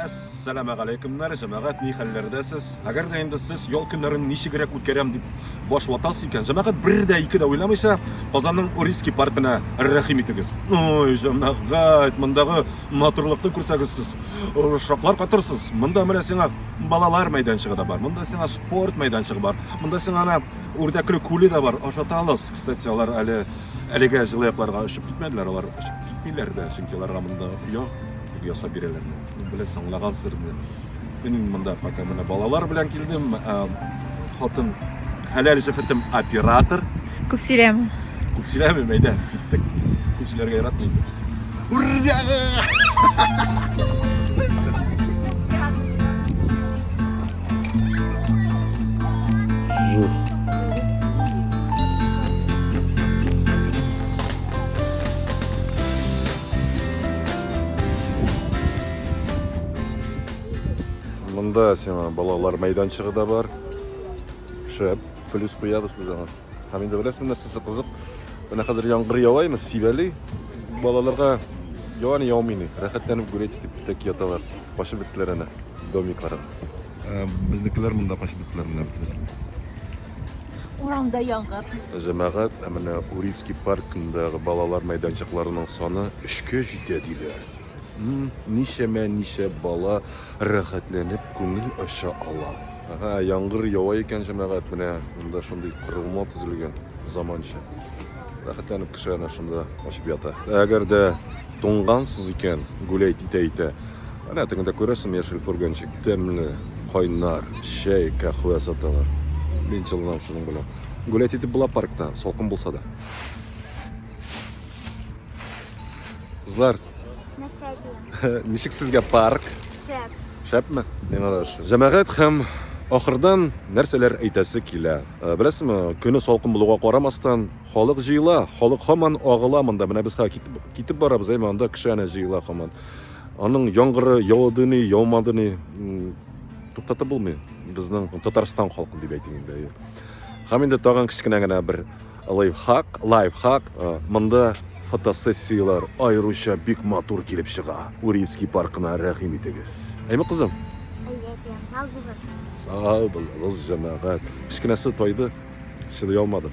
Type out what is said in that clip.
Әссәламә галәйкүмнәр, җәмәгать, ни хәлләрдә сез? Әгәр дә инде сез ял көннәрен ничегрәк үткәрәм дип баш ватасыз икән, җәмәгать, бер дә ике дә уйламыйча, Казанның Урицкий паркына рәхим итегез. Ой, җәмәгать, мондагы матурлыкны күрсәгез сез, шаклар катырсыз. Монда менә сиңа балалар мәйданчыгы да бар, монда сиңа спорт мәйданчыгы бар, монда сиңа Үрдәкле күле дә бар, ашатабыз. Кстати, алар әле әлегә җылы якларга очып китмәделәр, алар очып китмиләр дә, чөнки аларга монда оя ясап бирәләр. Беләсең, аңлагансыздыр инде. Мин монда пока менә балалар белән килдем. Ә, Хатын хәләл җефетем оператор. Күп сөйләмә. Күп сөйләмим, әйдә, киттек. Күп сөйләргә яратмыйм. Ура! Мында сиңа балалар мәйданчыгы да бар. Шәп, плюс куябыз без аңа. Һәм инде беләсезме, нәрсәсе кызык? Менә хәзер яңгыр ява имеш, сибәли. Балаларга ява ни яумый ни. Рәхәтләнеп гулять итеп тә яталар. Качып беттеләр әнә домикларын. Ә, Безнекеләр монда качып беттеләр менә бөтенесе. Урамда яңгыр. Җәмәгать, ә менә Урицкий паркындагы балалар мәйданчыкларының саны өчкә җитә диләр. Ничәмә ничә бала рәхәтләнеп күңел ача ала. Ага, яңгыр ява икән, җәмәгать, менә монда шундый корылма төзелгән, заманча. Рәхәтләнеп кеше ана шунда ачып ята. Әгәр дә туңгансыз икән, гүләйт итә-итә, Әнә тегендә күрәсең, яшел фургончик, тәмле, кайнар, чәй, кәхвә саталар. Мин җылынам шуның белән. Гулять итеп була паркта, салкын булса да. Кызлар. Нәрсә әйтәм? Ничек сезгә парк? Шәп. Шәпме? Миңа да ошый. Җәмәгать һәм ахырдан нәрсәләр әйтәсе килә. Э, беләсезме, көне салкын булуга карамастан, халык җыела, халык һаман агыла монда. Менә без хәзер китеп, китеп барабыз, әйме анда кеше әнә җыела һаман. Аның яңгыры яуды ни, яумады ни, туктатып булмый. Безнең Татарстан халкы дип әйтим инде. Һәм инде тагын кечкенә генә бер Лайфхак, лайфхак, монда фотосессияләр аеруча бик матур килеп чыга. Урицкий паркына рәхим итегез. Әйме, кызым? Әйе, әтием, сау булыгыз. Сау булыгыз, җәмәгать. Кечкенәсе тайды, чыдый алмады.